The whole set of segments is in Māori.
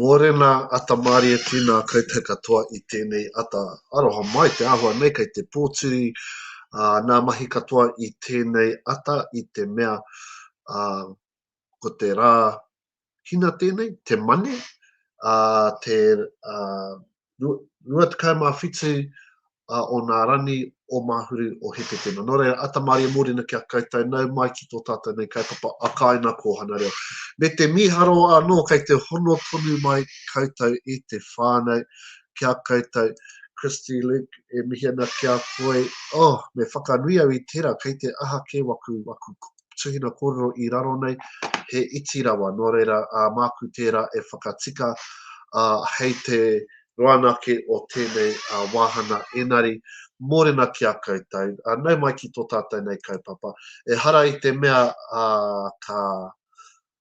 Mōrena ata mārie tēnā koutou katoa i tēnei ata aroha mai te āhua nei kei te pōturi nā mahi katoa i tēnei ata i te mea ko te rā hina tēnei, te Mane, te 27 a onā rani o Mahuru o Hepetema. No reira, ata Maria Morena ki a koutou, nau mai ki to tatou nei kaupapa a Kaina Kōhana Reo. Me te miharo anō kei te hono tonu mai koutou i te whānau ki a koutou. Christy Luke, e mihi ana ki a koe. Oh, me whakanui au i tera, kei te aha ke waku, waku tuhina kōrero i raro nei, he iti rawa, nō reira, māku tērā e whakatika hei te roa anake o tēnei wāhana engari, mōrena ki a koutou, nau mai ki tō tātou nei kaupapa, ehara i te mea ka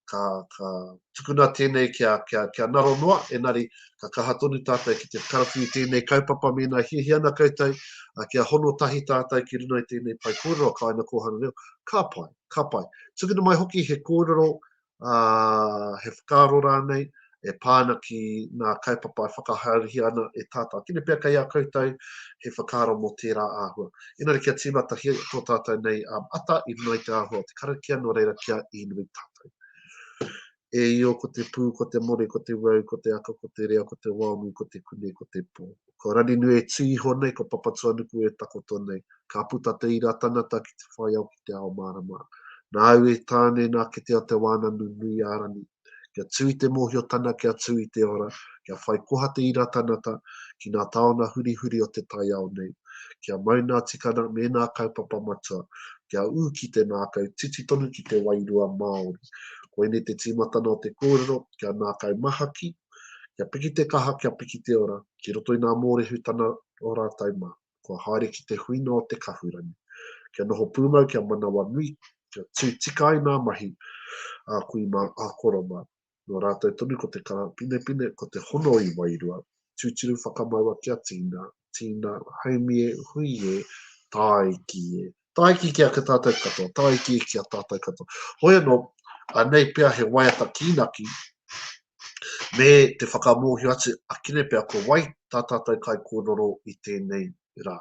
ka, ka tukuna tēnei kia, kia, kia naro noa, enari ka kaha tonu tātou ki te karawhi i tēnei kaupapa mēnā hiahia ana koutou a, kia hono tahi tātou ki runga i tēnei pae kōrero a Kāina Kōhanga Reo, ka pai, ka pai. Tukuna mai hoki he kōrero, ā, he whakaaro rānei, e pā ana ki ngā kaupapa e whakahaerehia ana e tātou. Ākene pea kei a koutou he whakaaro mō tērā āhua. Engari kia tīmatahia tō tātou nei ata i runga i te āhua o te karakia nō reira kia inui tātou. E io ko te pū, ko te more, ko te wau, ko te aka, ko te rea, ko te waonui, ko te kune, ko te pō. Ko Raninui e tū iho nei, ko Papatuanuku e takoto nei. Ka puta te ira tangata ki te whaiao ki te ao mārama. Nāu e tāne nā kitea te wānanu nui a Rani. Kia tū i te mōhiotana kia tū i te ora, kia whai koha te ira tanata ki ngā taona hurihuri o te taiao nei, kia mau ngā tikana me ngā kaupapa matua, kia ū ki te ngākau titi tonu ki te wairua Māori. Koinei te tīmatana o te kōrero, kia ngākau mahaki, kia piki te kaha, kia piki te ora, ki roto i ngā mōrehu tana ora tau mā. kua haere ki te huinga o te kahurangi, kia noho pūmau, kia manawanui, kia tū tika ai ngā mahi a kui mā, a koro mā. Nō rātou tonu ko te karapinepine, ko te hono i wairua, tūturu whakamaua kia tīna, tīna, haumi e, hui e, tāiki e, Tāiki ki a ki a tātou katoa, tāiki ki a tātou katoa. Hoi anō, anei pea he waiata kīnaki me te whakamōhio atu a Kine pea ko wai tā tātou kaikōrero i tēnei rā,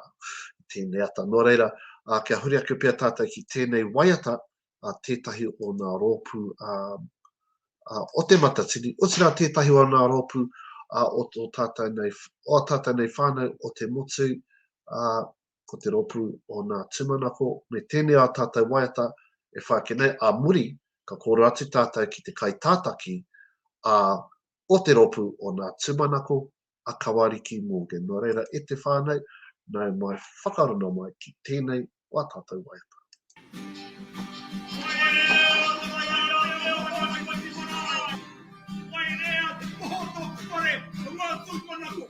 i tēnei ata. Nō reira, kia huri ake pea tātou ki tēnei waiata, tētahi o ngā rōpū o Te Matatini, otirā tētahi o ngā rōpū o tō tātou nei, o tātou nei whānau o Te Motu, ko te rōpū o nā tūmanako me tēnei ā tātou waiata e whai ake nei, ā muri ka kōrero atu tātou ki te kaitātaki a o te rōpū o nā tūmanako a Kawariki Morgan. Nō reira e te whānau, nau mai whakarona mai ki tēnei o ā tātou waiata. Wairea te poho o tōku whare, o ngā tūmanako.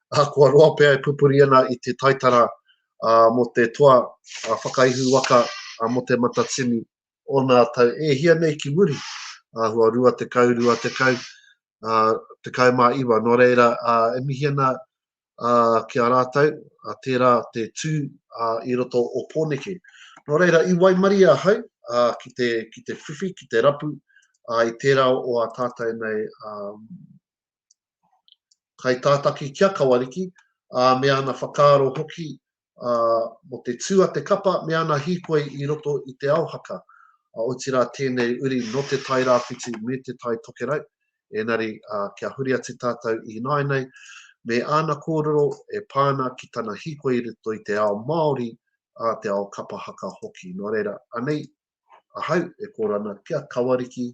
ahakoa roa pea e pupuri ana i te taitara mō te toa whakaihu waka mō Te Matatini o nā tau e hia nei ki muri, āhua rua tekau, rua tekau, tekau mā iwa. Nō reira, e mihi ana ki a rātou, tērā te tū i roto o Pōneke. Nō reira, i waimarie ahau ki te, ki te whiwhi, ki te rapu, i tērā o a tātou nei kaitātaki ki a Kawariki, ā, me ana whakaaro hoki mō te tū a te kapa me ana hīkoi i roto i te ao haka, otirā tēnei uri nō Te Tai Rāwhiti me Te Tai Tokerau, ēnari kia huri atu tātou i nāinei me āna kōrero e pā ana ki tana hīkoi i roto i te ao Māori, ā, te ao kapa haka hoki. Nō reira, anei ahau e kōrero ana ki a Kawariki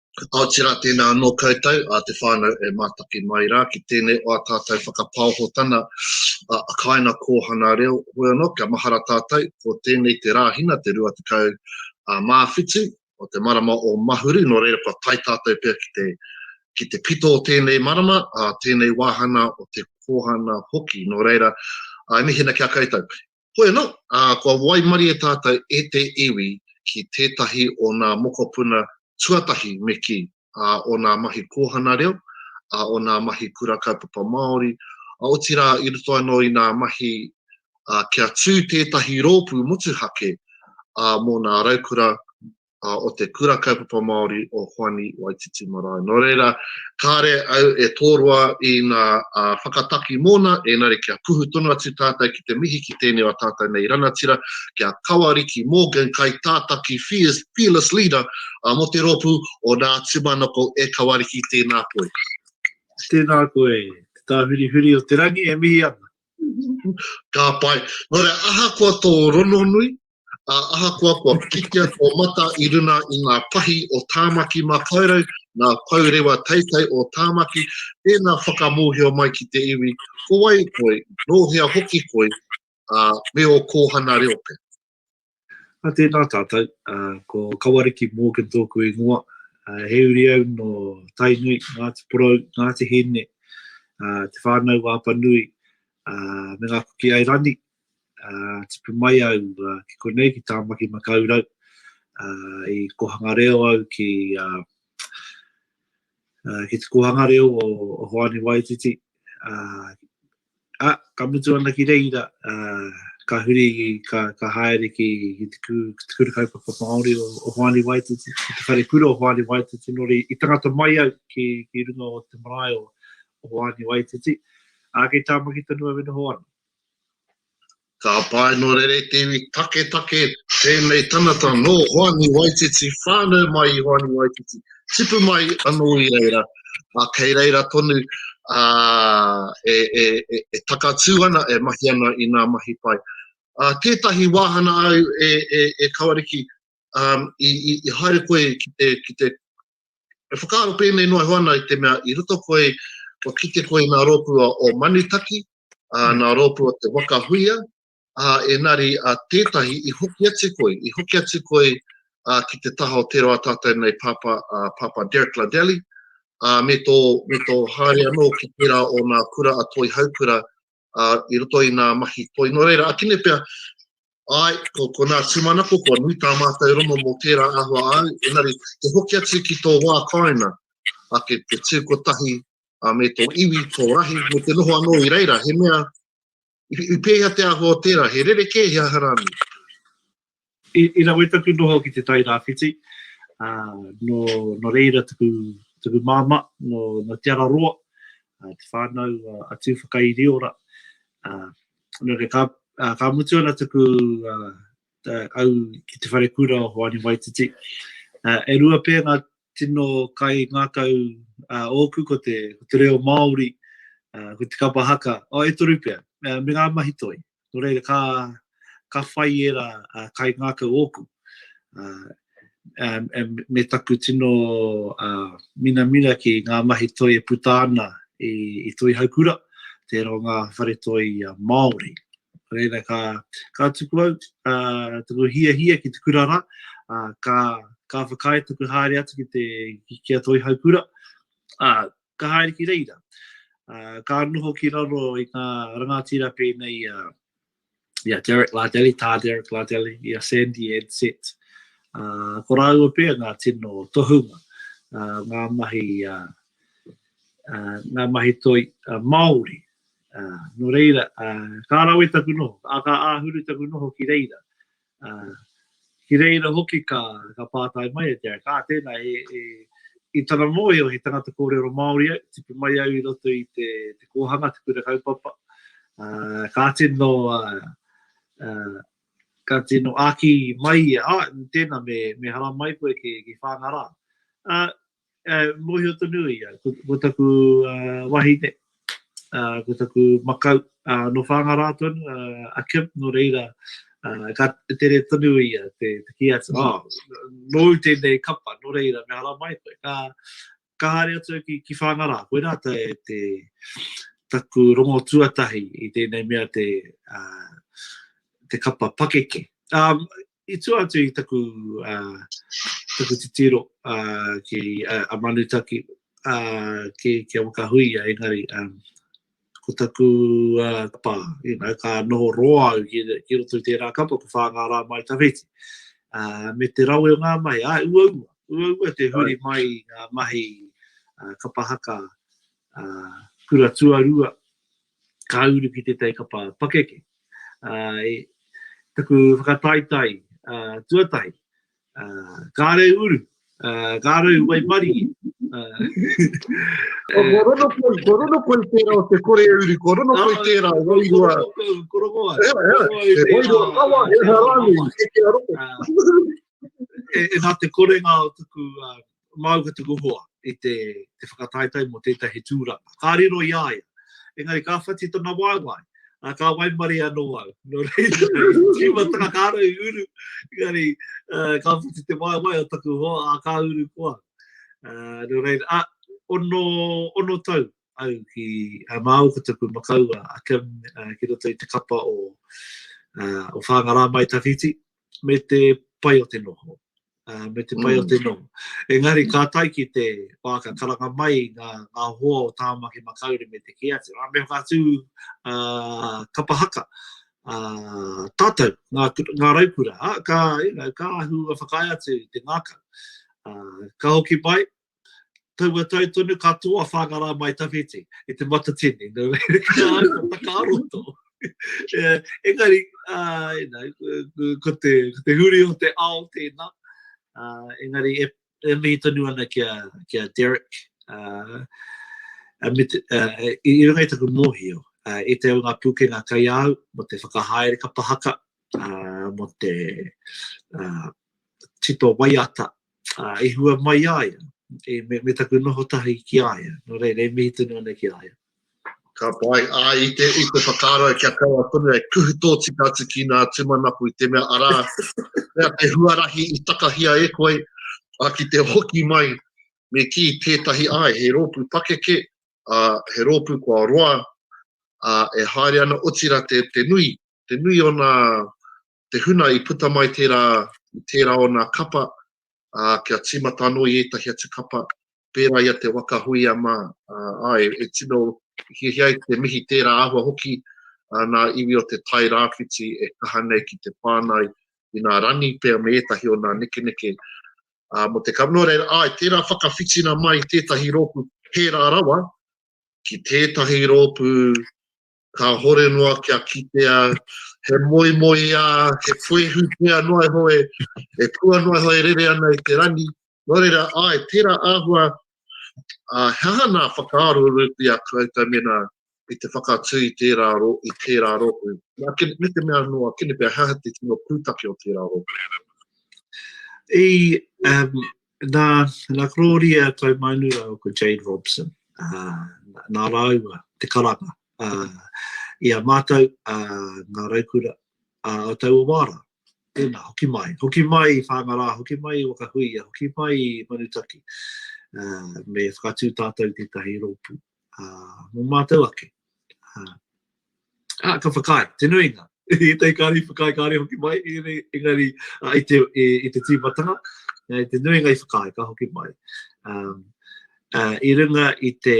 Aoteara tēnā anō koutou a te whānau e mātaki mai rā ki tēnei o ā tātou whakapaohotana a Kaina Kōhana Reo, hoi anō kia mahara tātou ko tēnei te Rāhina te 27 o te marama o Mahuru nō reira kua tae tātou pea ki te ki te pito o tēnei marama a tēnei wāhana o te Kōhana hoki nō reira e mihina ki a koutou. Hoi anō, ā, kua waimarie tātou e te iwi ki tētahi o nā mokopuna tuatahi me kī, ā, o nā mahi kōhana reo, ā, o nā mahi kura kaupapa Māori, ā, otirā i roto anō i nā mahi, ā, kia tū tētahi rōpū motuhake, ā, mō nā raukura uh, o te Kura Kaupapa Māori o Hoani Waititi Marae. Nō reira, kāre au e tōroa i ngā uh, whakataki mōna, ēnare kia kuhu tonu atu tātou ki te mihi ki tēnei o tātou nei ranatira, kia Kawariki Morgan, kai tātaki fearless, fearless leader uh, mō te rōpū o Nā Tumanoko e Kawariki, tēnā koe. Tēnā koe, te tāhurihuri o te rangi e mihi ana. Ka pai. Nō reira, ahakoa tō rononui, ā, ahakoa kua pikitia tō mata i runa i ngā pahi o Tāmaki Makaurau, ngā pou rewa teitei o Tāmaki, tēnā whakamōhio mai ki te iwi, ko wai koe, nō hea hoki koe, ā, me ō kōhana reo pea. Ā, tēnā tātou, ā, ko Kawariki Morgan tōku ingoa, ā, he uri au nō Tainui, Ngāti Porou, Ngāti Hine, ā, Te Whānau Wāpanui, ā, me Ngā Kuki Airani, uh, tipu mai au uh, ki konei ki Tāmaki Makaurau, uh, i kohanga reo au ki, uh, uh, ki te kohanga reo o, o Hoani Waititi. Uh, a, ka mutu ana ki reira, uh, ka huri, ka, ka haere ki, ki te, ku, ki te kura kaupapa Māori o, o Hoani Waititi, ki te whare kura o Hoani Waititi, nori i tangata mai au ki, ki runga o te marae o, o Hoani Waititi. Uh, a ke tāma ki tonu au e noho ana. Ka pae no Reretiwi taketake tēnei tangata nō Hoani Waititi, whānau mai i Hoani Waititi, tipu mai anō i reira, ā, kei reira tonu e takatū ana, e mahi ana i ngā mahi pai. Tētahi wāhana au e Kawariki, i haere koe ki te E whakaaro pēnei noa iho ana i te mea i roto koe, kua kite koe i ngā rōpū o Manutaki, ā, mm. ngā rōpū o te Waka Huia, ā, engari ā, tētahi i hoki atu koe, i hoki atu koe ā, ki te taha o te roa tātou nei Papa, ā, Papa Derek Ladelli, ā, me tō, me tō haere anō ki tērā o ngā kura a Toi Haukura uh, i roto i nā mahi toi. Nō reira, akine pia, ai, ko, ko nā tūmanako, ko nui tā mātou rongo mō tērā ahua au, enari, te hoki atu ki tō wā kāina, a ke te tū kotahi, a me tō iwi, tō rahi, me te noho anō i reira, he mea, i, i pēhea te ahua o tērā, he rere kē, he aharani. I rawe taku noho ki te Tairāwhiti, ā, nō, nō reira taku, taku māmā, nō, nō Te Araroa, ā, te whānau a Tūwhakairiora, ā, nō reira ka, ā, ka mutu ana taku, ā, ā, au ki te wharekura o Hoani Waititi. Ā, e rua pea ngā tino kai ngākau ā ōku ko te, ko te reo Māori, ā, ko te kapa haka, ā, e toru pea, ā, me ngā mahi toi. Nō reira, ka, ka whai ērā uh, kaingākau ōku. Uh, um, me taku tino uh, minamina ki ngā mahi toi e puta ana i, i toi haukura, tērā o ngā whare toi uh, Māori. Reira, ka, ka tuku au, uh, tuku hia hia ki te kurara, uh, ka, ka whakaae tuku haere atu ki te ki a toi haukura, uh, ka haere ki reira. Ka noho ki raro i ngā rangatira pēnei i a ia Derek Lardelli, tā Derek Lardelli, i a Sandy Edsett. Uh, ko rāua pēr ngā tino tohunga, uh, ngā mahi, uh, uh, ngā mahi toi uh, Māori. Uh, no reira, uh, ka rawe taku noho, a ka āhuru taku noho ki reira. Ā, ki reira hoki ka, ka pātai mai e te Aika, ā, tēnā, e, e, i tana mōhio he tangata kōrero Māori au, tipu mai au i roto i te, te kōhanga, te kura kaupapa, ā, ka tino, ā, ā, ka tino āki mai ia, ā, tēnā, me, me haramai koe ki, ki Whāngarā. Ā, Uh, mohio tonu i au, ko, ko taku uh, wahine, uh, ko taku makau, uh, no whāngarā tonu, uh, a Kim, no reira, uh, ka tere tonu i a te, te ki atu, mm. oh, nō tēnei kapa, no reira, me hara mai koe, ka, ka haere atu ki, ki whāngarā, koe rā te, te taku rongo tuatahi i tēnei mea te, uh, te kapa pakeke. Um, i tua atu i taku, uh, taku titiro uh, ki uh, a Manutaki uh, ki, ki a Wakahuia, engari um, ko taku uh, kapa, you know, ka noho roa au ki, ki roto i tērā kapa, ko whāngā rā mai tawhiti. Uh, me te rawe o ngā mai, a ua ua, ua ua te huri mai ngā mahi uh, kapa haka kura tuarua, ka uru ki tētahi kapa pakeke. Taku whakataetae tuatahi, kāre uru, kāre uru wai mariki. Ko rono koi, ko rono koi tērā o te kore uru, ko rono koi tērā o wai rua. Ko rono koi, ko rono koi tērā. Wai rua kawa, he harani, he te aroke. E nā te korenga o tuku Māu ka tuku hoa i te whakataetae mō tētahi tūranga. Ka riro i a ia. Engari ka whati tana waewae, ā, ka waimarie anō au. Nō reira, i tīmatanga ka raua i uru, engari, ā, ka whati te waewae o taku hoa, ā, ka uru ko au. Ā, nō reira, ā, ono, ono tau au ki, ā, māu ko taku makaua a Kim, ā, ki roto i te kapa o, ā, o Whāngarā-mai-tawhiti, me te pai o te noho, me te pai o te noho. Engari ka tai ki te wā ka karanga mai ngā hoa o Tāmaki Makaurau me te kē atu. Me whakatū kapa haka tātou, ngā raukura, ka ahu whakaae atu te ngākau. Ka hoki mai, taua tau tonu ka tō a Whāngarā mai tawhiti i te matatini, nō reira ki tā au ka whakaroto. yeah, engari, uh, you know, ko, ko, te, ko te huri o te ao tēnā, uh, engari e, e mihi tonu ana ki a, ki a Derek, uh, a mit, uh, i, i runga i taku mōhio, uh, i te au ngā pūkenga kai au, mo te whakahaere ka pahaka, uh, mo te uh, tito waiata, ā, i hua mai i a ia, i, me, me taku noho tahi ki a ia, nō reira, e mihi tonu ana ki a ia. Ka pai, ā, i te, i te whakaaro kia kaua tonu e kuhu tōtika atu ki nā tūmanaku i te mea, arā, mea te huarahi i takahia e koe, ā, ki te hoki mai, me kī tētahi, āe, he rōpū pakeke, ā, he rōpū kua roa, ā, e haere ana, otirā te, te nui, te nui o nā, te huna i puta mai tērā, tērā o nā kapa, ā, kia tīmata anō i ētahi atu kapa, pērā i a Te Waka Huia mā, ā, āe, e tino hiahia ai te mihi tērā āhua hoki ā nā iwi o te Tai Rāwhiti e kaha nei ki te whānau i nā rangi pea me ētahi o nā nekeneke, ā, mō te kapa, nō reira, āe, tērā whakawhitina mai tētahi rōpū pērā rawa ki tētahi rōpū kāhore noa kia kitea he moemoeā, he fuehu pea noa iho e, e kua noa iho e rere ana i te rangi. Nō reira, āe, tērā āhua, ā, he aha nā whakaaro rūpi a koutou mēnā i te whakatū i tērā, i tērā rōpū? Nā, kene, me te mea noa, kene pea he aha te tino pūtake o tērā rōpū? I, um, Nā, nā Gloria Taumaunurau ko Jade Robson, ā, nā rāua te karanga, ā, i a mātou, ā, ngā raukura, ā, o taua wā rā. Tēnā, hoki mai, hoki mai i Whāngarā, hoki mai i Wakahuia, hoki mai i Manutaki, ā, me whakatū tātou i tētahi rōpū. mō mātou ake. Ā, ka whakaae, te nuinga, ētahi kāri whakaae, kāre hoki mai, engari i te tīmatanga, i te nuinga i whakaae, ka hoki mai. I runga i te,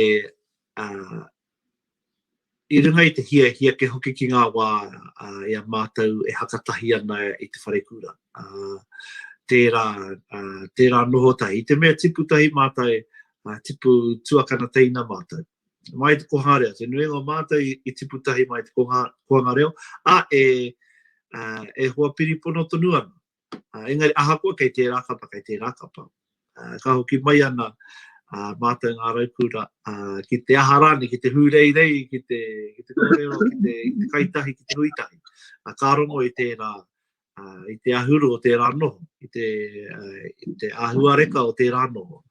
i runga i te hiahia kia hoki ki ngā wā i a mātou e hakatahi ana i te wharekura. Tērā, tērā noho tahi. I te mea tipu tahi mātou, Ngā tipu tuakana teina mātou. Mai te koha reo, te nuinga o mātou i tipu tahi mai te koha, koanga reo, a e, e hoa piripono tonu ana. Uh, engari ahakoa kei tērā kapa, kei tērā kapa. Uh, ka hoki mai ana uh, mātou ngā raukura uh, ki te aha rāne, ki te hūreirei, ki te, ki te kōrero, ki te, ki te kaitahi, ki te huitahi. Uh, ka rongo i tērā, i te ahuru o tērā noho, i te, i te ahuareka o tērā noho.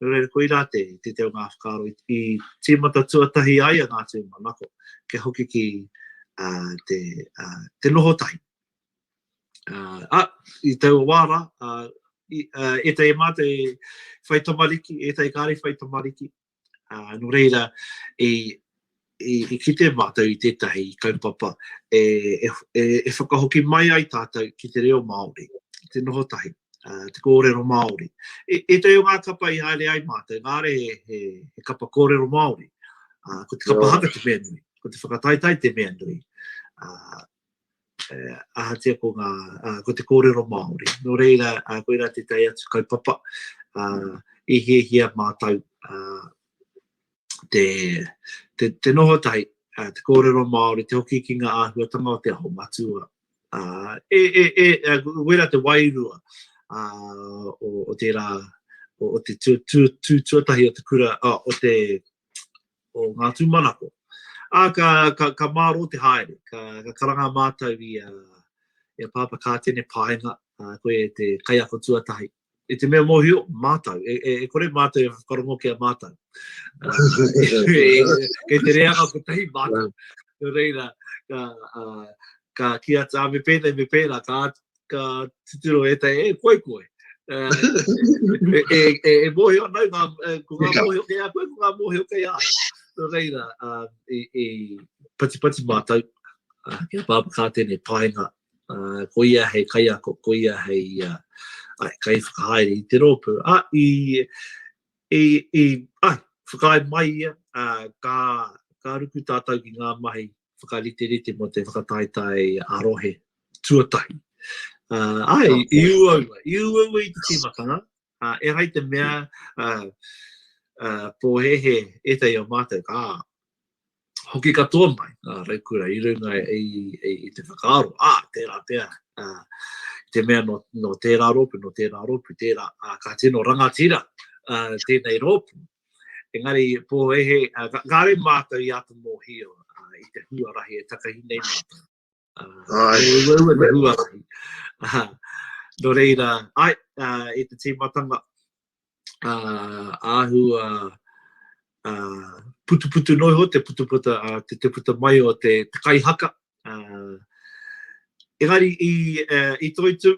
Nō reira, koirā te, te te o ngā whakaaro i, i tīmata tuatahi ai a ngā tū manako, kia hoki ki uh, te, uh, te noho tahi. Uh, a, i tau o wāra, uh, i, uh, e te e mātou e whai tamariki, e te kāre whai tamariki, Nō reira, i kite mātou i tētahi kaupapa e whakahoki mai ai tātou ki te reo Māori, ki te noho tahi, te kōrero Māori. Ētahi o ngā kapa i haere ai mātou, kāre he kapa kōrero Māori, ko te kapa haka te mea nui, ko te whakataetae te mea nui. ahatia ko ngā, ko te kōrero Māori. Nō reira, koirā te tae atu kaupapa, i hiahia mātou te, te, te noho tahi, te kōrero Māori, te hoki ki ngā āhuatanga o te aho matua. E, e, e, koirā te wairua o, o tērā, o, o te tū, tū, tū tuatahi o te kura, o te, o ngā tūmanako. Ā, ka, ka, ka mārō te haere, ka, ka karanga mātou i a, i a Pāpā Kātene Paenga, ā, koe e te kaiako tuatahi. I te mea mōhio, mātou, e, e, e kore mātou e whakarongo ki a mātou. Kei te reanga kotahi mātou. Nō reira, ka, uh, ka ki atu, me pēnei, me pēnā, ka, ka tuturo e tai, e koe koe. Uh, e, e, e, e mōhio nau, ngā, e, ko ngā mōhio kei a koe, ko ngā mōhio kei a. Nō reira, uh, e, e patipati mātou, uh, kia pāpa kā tēnei paenga, uh, ko ia hei kaiako, ko ia hei uh, ai, kai whakahaere i te rōpū. A, i, i, i, ai, whakae mai ia, uh, ka, ka ruku tātou ki ngā mahi whakariterite mō te whakataetae ā-rohe tuatahi. Uh, ai, oh, i uaua, i uaua i te tīmatanga, uh, e hai te mea uh, uh, pōhehe e te i o mātou, ka hoki katoa mai, uh, raukura, i runga e, e, e, e te whakaaro, a, ah, tērā pēā, uh, te mea no, no tērā rōpu, no tērā rōpu, tērā, uh, ka tino rangatira uh, tēnei rōpu, Engari, pōhēhē, kāore mātou i āta mōhio i te huarahi e takahi nei mātou. He uaua te huarahi. Nō reira, ai, i te tīmatanga, āhua putuputu noa iho, te puta mai o te kaihaka, Engari i toitu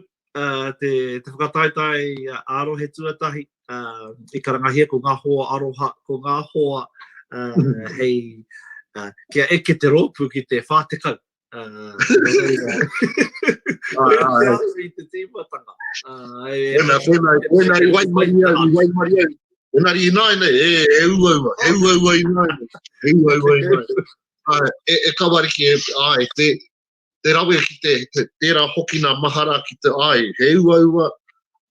te whakataetae ā-rohe tuatahi i karangahia ko Ngā Hoa Aroha, ko Ngā Hoa hei kia eke te rōpū ki te 40. I te tīmatanga. Tēnā i waimarie au, i waimarie au. Engari ināianei, he uaua, he uaua ināianei, he uaua ināianei. Āe, e, e Kawariki, e, āe, te, te rawe ki te, te tērā hoki nā mahara ki te āe, he uaua,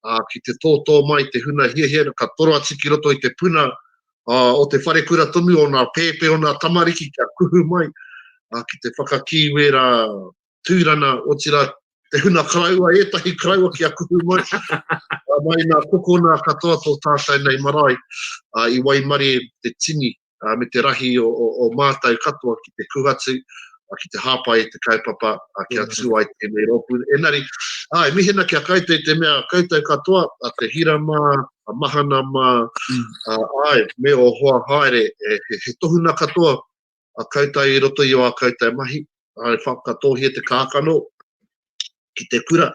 ā, ki te tōtō mai te huna hiahia, ka toro atu ki roto i te puna ā, o te wharekura tonu, o nā pēpē, o nā tamariki kia kuhu mai, ā, ki te whakakī wērā tūrana, otirā, te huna karaua, ētahi karaua kia kuhu mai, ā, mai nā kokona katoa tō tātai nei marae, ā, i waimarie te tini, uh, me te rahi o, o, o mātou katoa ki te kuhatu, uh, ki te hāpai i te kaupapa, uh, ki a tū ai tēnei rōpū. Enari, uh, e mihena ki a koutou i te mea koutou katoa, uh, te hira mā, a mahana mā, uh, ai, me o hoa haere, e, he, he tohuna katoa a koutou i roto i o a koutou mahi, ai whakatohia te kākano ki te kura.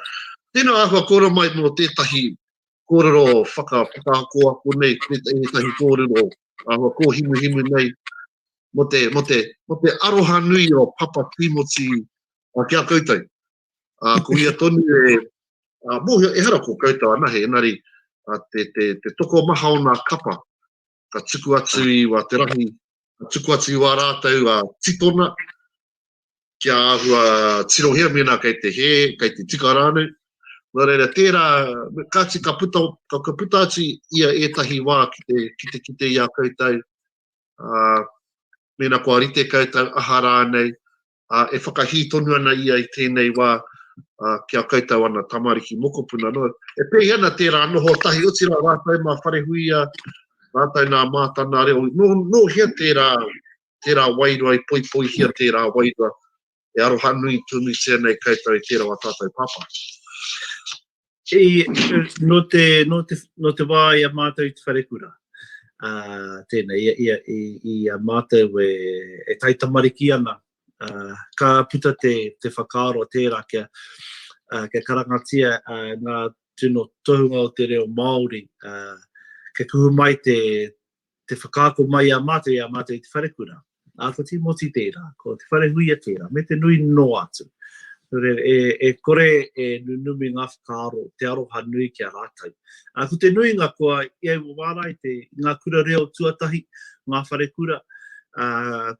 Tēnā āhua kōra mai mō tētahi kōrero whakako ako nei, ētahi kōrero āhua kōhimuhimu nei, mō te, mō te, mō te aroha nui o Papa Tīmoti uh, ki a koutou. Uh, ko ia tonu e, uh, mōhio, ehara ko koutou anahe, engari uh, te, te, te toko maha o nā kapa, ka tuku atu i wa te rahi, ka tuku atu i wa rātou a titona, kia āhua tirohia mēnā kei te hē, kei te tika rānei. Nō reira, tērā, kāti ka puta, ka, ka puta atu ia ētahi wā ki te, ki te, ki te ia koutou, uh, mēnā kua rite koutou, aha rānei, ā, e whakahī tonu ana ia i tēnei wā ki a koutou ana tamariki mokopuna noa. E pēhi ana tērā noho tahi, otirā rātou mā Wharehuia, rātou nā Mātana reo. Nō, nō hea tērā, tērā wairua i poipoihia tērā wairua? E aroha nui tonu tēnei koutou i tērā o ā tātou pāpā. No te, no te, no te wā i a mātou i te wharekura. Uh, tēnei, i, i, i, i a mātou e, e taitamariki ana. Uh, ka puta te, te whakaaro tērā kia, uh, kia karangatia uh, ngā tino tohunga o te reo Māori. Uh, kia kuhu mai te, te whakaako mai i a mātou, i a mātou i te wharekura. Ā, ko Tīmoti tērā, ko Te Wharehuia tērā, me te nui noa atu. Nō reira, e, e kore e nunumi ngā whakaaro, te aroha nui ki a rātou. Ā, ko te nuinga, kua i au wārae te, ngā kura reo tuatahi, ngā wharekura, ā,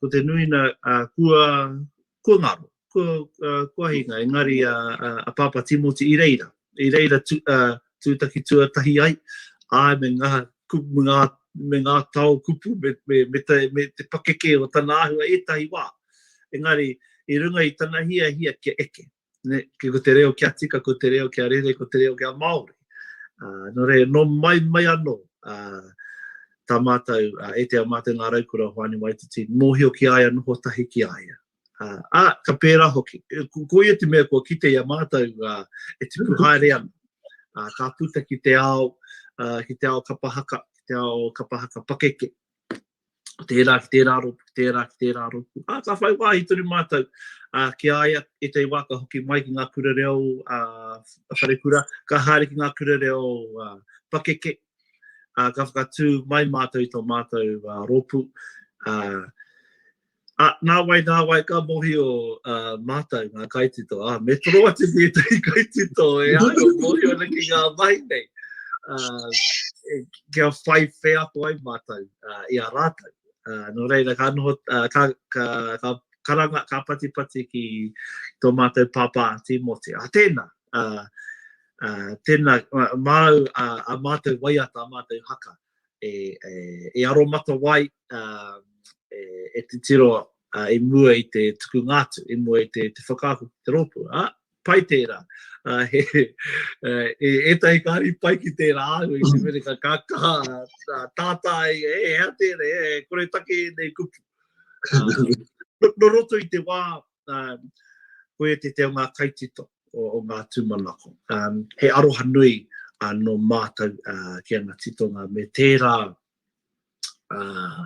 ko te nuina, ā, kua, kua ngaro, kua hinga, engari a Pāpā Tīmoti i reira, i reira tūtaki tuatahi ai, āe me ngā kupu, me ngā tao kupu, me te pakeke o tana āhua ētahi wā, engari i runga i tana hiahia kia eke. ne, ki ko te reo kia tika, ko te reo kia rere, ko te reo kia Māori. Uh, no re, no mai mai anō, uh, tā mātou, uh, e te a mātou ngā raukura o Hoani Waititi, mōhio ki aia, noho tahi ki aia. Uh, a, ka pērā hoki, e, ko, ko ia te mea kua kite i a mātou, uh, e te puhaere ana, uh, ka puta ki te ao, uh, ki te ao kapahaka, ki te ao kapahaka pakeke. tērā ki tērā rōpū, tērā ki tērā rōpū. Ā, ka whai wāhi tonu mātou ki a ia, ētahi wā ka hoki mai ki ngā kura reo wharekura, ka haere ki ngā kura reo pakeke, ka whakatū mai mātou i tō mātou rōpū. Ā, nāwai, nāwai ka mōhio mātou ngā kaitito. Ā, me toro atu tētahi kaitito e āio mōhio ana ki ngā mahi nei. Ā, e, kia whai wheako ai mātou ā, i a rātou. Ā, nō reira, ka noho, ā, ka, ka, ka karanga, ka patipati ki tō mātou pāpā Tīmoti. Ā, tēnā, ā, ā, tēnā, māu, ā, ā mātou waiata, ā mātou haka. e aromatawai, e titiro i mua i te tukunga atu, i mua i te whakaako ki te rōpū. Ā, pai tērā. E ētahi kāri pai ki tērā āhua i te mea ka kaha tātā ai, e hea tēnei, e kore take ēnei kupu. Nō roto i te wā koia te te o ngā kaitito. o, o ngā tūmanako. Um, he aroha nui uh, no mātou uh, ki ana titonga me tērā, uh,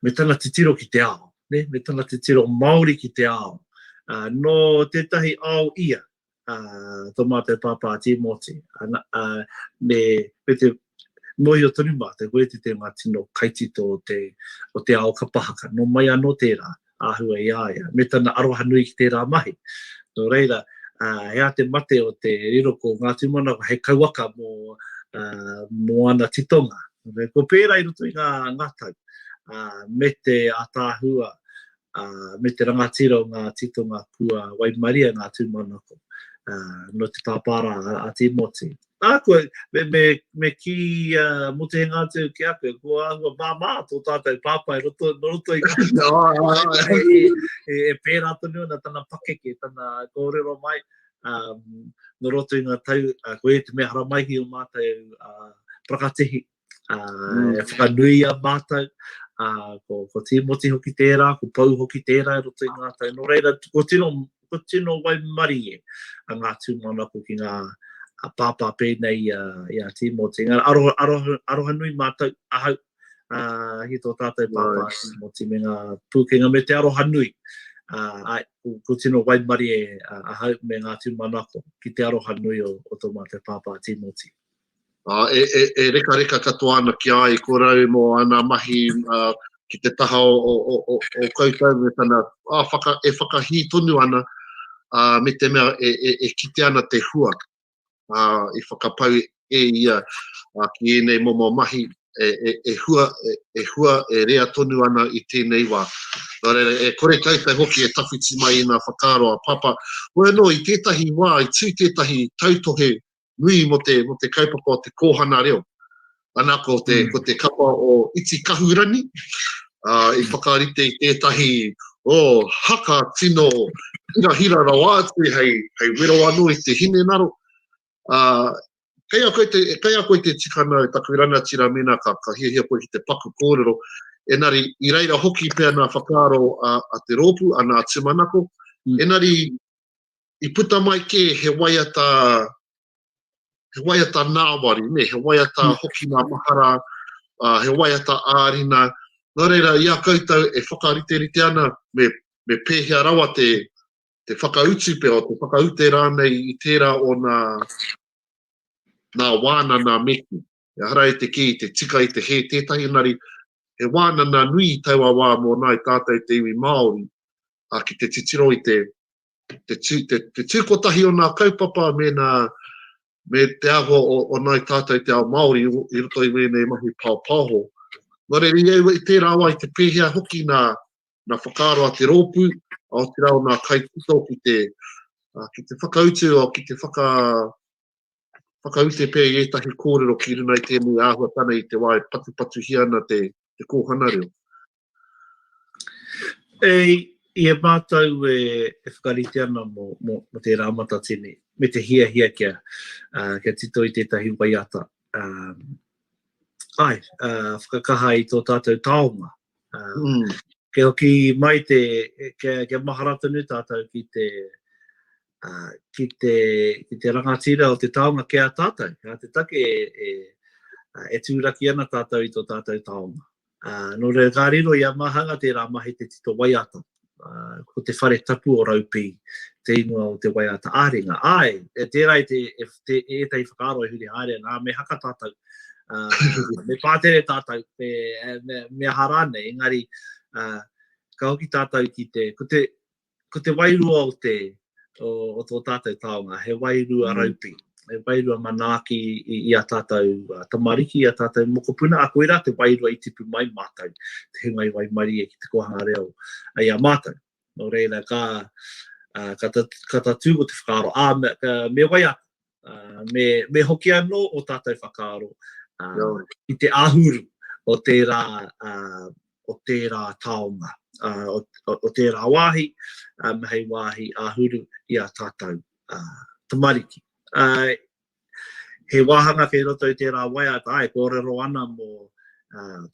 me tana titiro ki te ao, ne? me tana titiro Māori ki te ao. Uh, no tētahi ao ia, uh, tō mātou pāpā Tīmoti, uh, uh, me, me te Mōhio tonu mātou, ko ētehi o ngā tino kaitito o te, o te ao kapa haka, nō mai anō tērā āhua i a ia, me tana aroha nui ki tērā mahi. Nō reira, ā, he aha te mate o te riro ko ngā tūmanako hei kauaka mō, ā, mō ana titonga. Ko pērā i roto i ngā, ngā tau, ā, me te ātaahua, ā, me te rangatira o ngā titonga kua waimaria ngā tūmanako, ā, nō te tāpārā a Tīmoti. Ā, kua, me, me, me kī a Motuhenga atu ki a koe, kua āhua māmā tō tātou pāpā i roto, nō roto i ngā tūmanako e, e, e pērā tonu ana tana pakeke, tana kōrero mai, ā, nō roto i ngā tau, ā, ko ia te mea haramaihi o mātou, ā, prakatihi, Uh, e whakanuia mātou, uh, ko, ko Tīmoti hoki tērā, ko Pau hoki tērā e roto i ngā tau. Nō reira, ko tino, ko tino waimari e a ngā tūmanako ki ngā a pāpā pēnei i a, i a Tīmoti. Ngā aroha, aroha, aroha nui mātou, ahau, uh, ki tō tātou pāpā nice. Tīmoti me ngā pūkenga me te aroha nui. Uh, ai, ko, ko tino waimari e uh, ahau me ngā tūmanako ki te aroha nui o, o tō mātou pāpā Tīmoti. ā, e, e, e rekareka katoa ana ki a i korau mō ana mahi ā, ki te taha o, o, o, o, o koutou me tana, ā, whaka, e whakahī tonu ana, ā, me te mea e, e, e kite ana te hua ā, i whakapau e ia ā, ki ēnei momo mahi e, e, e, hua, e, e hua e rea tonu ana i tēnei wā. Nō reira, e kore koutou hoki e tawhiti mai i ngā whakaaro a Papa. Hoi anō, i tētahi wā, i tū tētahi tautohe nui mo te, mo te kaupapa o te kōhana reo. Ana ko te, mm. ko te kapa o Iti Kahurangi, uh, i whakarite i tētahi o oh, haka tino hira hira rawa atu hei, hei wero anō i te hine naro. Uh, kei a koe te, kei a koe te tikana o taku rangatira mena ka, ka hia hia koe ki te paku kōrero. Enari, i reira hoki pea nā whakaaro a, a te rōpu, a nā Timanako. Mm. Enari, i puta mai kē he waiata, he waiata nāwari, ne, he waiata mm. hoki ngā mahara, uh, he waiata ārina. Nō reira, i a koutou e whakariterite ana, me, me pēhea rawa te, te whakautu pea, te whakaute rānei i tērā o nā, nā wāna nā meku. E hara e te kī, te tika i te he tētahi nari, he wāna nā nui i taua wā mō nāi tātou te iwi Māori, a ki te titiro i te, te tū, te, te tū kotahi o nā kaupapa me nā, me te āhua o, o nāi tātou te ao Māori i roto i wēnei mahi pāpāho. Nō reira i au i tērā wai te pēhea hoki nā, nā whakaaro a te rōpū, a o te rao nā kai tito ki te, ki te whakautu, o ki te whaka, whakaute pea i ētahi kōrero ki runa i tēnei āhuatana i te wā e patupatuhia ana te, te kōhana reo. E, i e mātou e, e whakarite ana mō, mō, mō te rāmata tēnei, me te hiahia kia, uh, kia tito i tētahi waiata. Uh, ai, uh, whakakaha i tō tātou taonga. Uh, mm. Ke hoki mai te, kia, kia mahara tonu tātou ki te, ki te, ki te rangatira o te taonga ki a tātou, ki a te take e, e, e tūraki ana tātou i tō tātou taonga. Uh, nō reira ka riro i a Mahanga tērā mahi te tito waiata, uh, ko te whare tapu o Raupi, te ingoa o te waiata āringa. Ai, e tērā e, te, e, te, e tei whakaaro e huri haere, nā, me haka tātou, uh, me pātere tātou, me, me, me aha rānei, engari, uh, ka hoki tātou ki te, ko te, ko te wairua o te, o tō tātou taonga, he wairua raupi, he wairua manaaki i a tātou tamariki, i a tātou mokopuna, a koirā te wairua i tipu mai mātou, te hunga i waimarie ki te kōhanga reo i a mātou. Nō reira, ka tatū ko te whakaaro, ā, me wai aku, me, me hoki anō o tātou whakaaro uh, i te ahuru o tērā, uh, o tērā taonga, uh, o, o, o tērā wāhi, um, hei wāhi ahuru i a tātou uh, tamariki. Uh, he wāhanga kei roto i tērā waiata, ai, kōrero ana mō uh,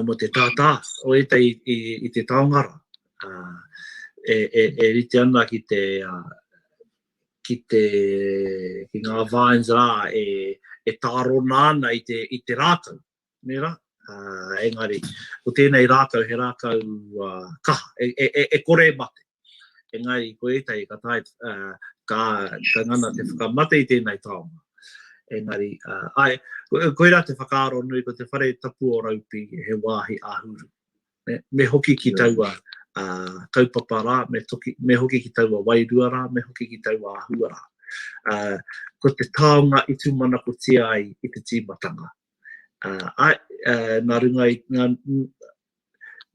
mō te tātā o ētahi i te taonga rā, e rite ana ki te, ki te, ki ngā vines rā e tārona ana i te rākau, nē rā? Engari, ko tēnei rākau he rākau kaha, e kore e mate. Engari, ko ētahi ka tae, ka ngana te whakamate i tēnei taonga. Engari, ae, koirā te whakaaro nui, ko te whare tapu o Raupi he wāhi āhuru. Me hoki ki taua kaupapa rā, me hoki ki taua wairua rā, me hoki ki taua āhua rā. Ko te taonga i tūmanakotia ai i te tīmatanga. Ae, nā runga i,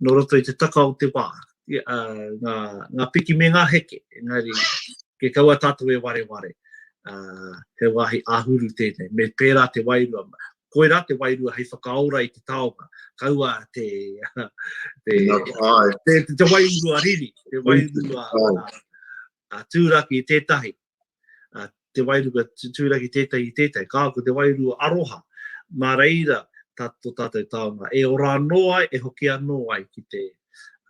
nō roto i te taka o te wā, ngā piki me ngā heke, engari kia kaua tātou e wareware, he wāhi āhuru tēnei, me pērā te wairua, koirā te wairua hei whakaora i te taonga, kaua te wairua riri, te wairua tūraki tētahi, Uh, te wairu ka tūraki tētai i tētai, kā ko te wairu aroha, mā reira tā tō tātou taonga, e ora anō ai, e hoki anō ai ki te,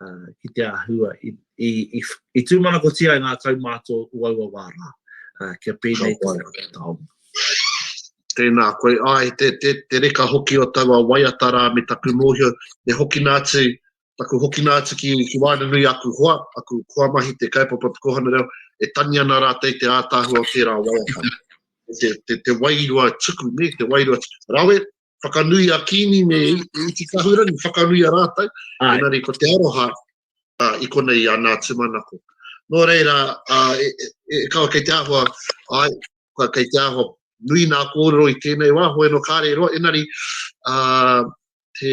uh, ki te āhua, i, i, i, i tūmanakotia ngā kaumātua uaua wā rā, uh, kia pēnei te taonga. Tēnā koe, ai, te, te, te reka hoki o taua waiata rā me taku mōhio, e hoki nā atu taku hokina atu ki, ki waena nui aku hoa, aku hoa mahi te kaipapa te kohana reo, e tangi ana rātou te ātaahua o tērā waiata. te, te, te wairua tuku, ne, te wairua tuku. Rawe, whakanui a Kini me Iti Kahurangi, whakanui a rātou, enari ko te aroha uh, i konei i ana tūmanako. Nō reira, uh, e, e, e, kawa kei te ahua, ai, kei te ahua, nui nā kōrero i tēnei wā, hoi no kāre roa, enari, uh, te,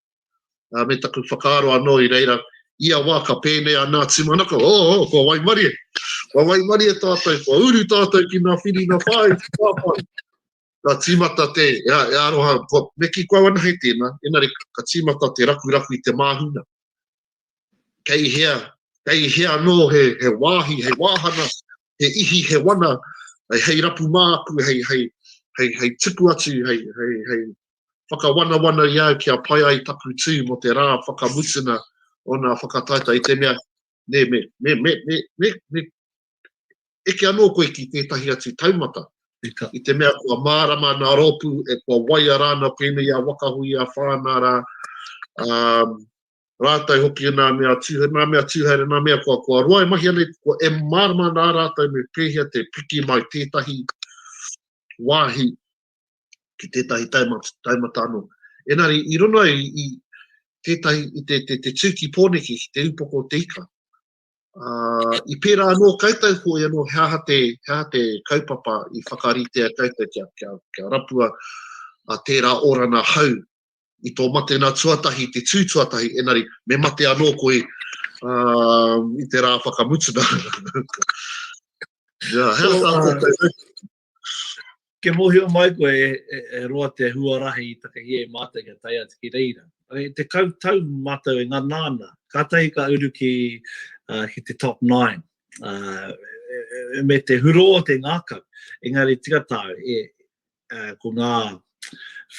uh, me taku whakaaro anō i reira, ia wā ka pēnei a Nā Timanaka, o, oh, oh, kua waimarie, kua waimarie tātou, kua uru tātou ki nā whiri nā whāi, ki nā whāi. Ka tīmata te, e, e aroha, kua, me ki kua wana hei tēnā, enare ka tīmata te rakuraku i te māhuna. Kei hea, kei hea anō he, he wāhi, he wāhana, he ihi, he wana, hei, hei rapu māku, hei, hei, hei, hei tipu atu, hei, hei, hei, Whakawanawana i au kia pai ai taku tū mō te rā whakamutunga o nā whakataetae i te mea, nē, me, me, me, me, me, me, eke anō koe ki tētahi atu taumata, i te mea kua mārama nā rōpū e kua waia rāna pēnei a Wakahui, a Whānā rā, um, rātou hoki nā mea tūhaere, nā mea tūhaere, nā mea kua, kua roa e mahi anei, kua e mārama nā rātou me pēhea te piki mai tētahi wāhi ki tētahi taumata anō. Engari, i rono ai i tētahi, i te, te, te tūki pōneki ki te upoko o te ika, uh, i pērā anō koutou ko ia anō he aha te, he aha te kaupapa i whakaritea koutou kia, kia, kia rapua a tērā orana hau i tō mate nā tuatahi, te tū tuatahi, enari me mate anō koe uh, i te rā whakamutuna. yeah, hea tā koutou. Kia mōhio mai koe e roa te huarahi i takahia e mātou kia tae atu ki reira. E tekau tau mātou e ngana ana, kātahi ka uru ki te top nine. Me te hurō o te ngākau, engari tika tāu e, ko ngā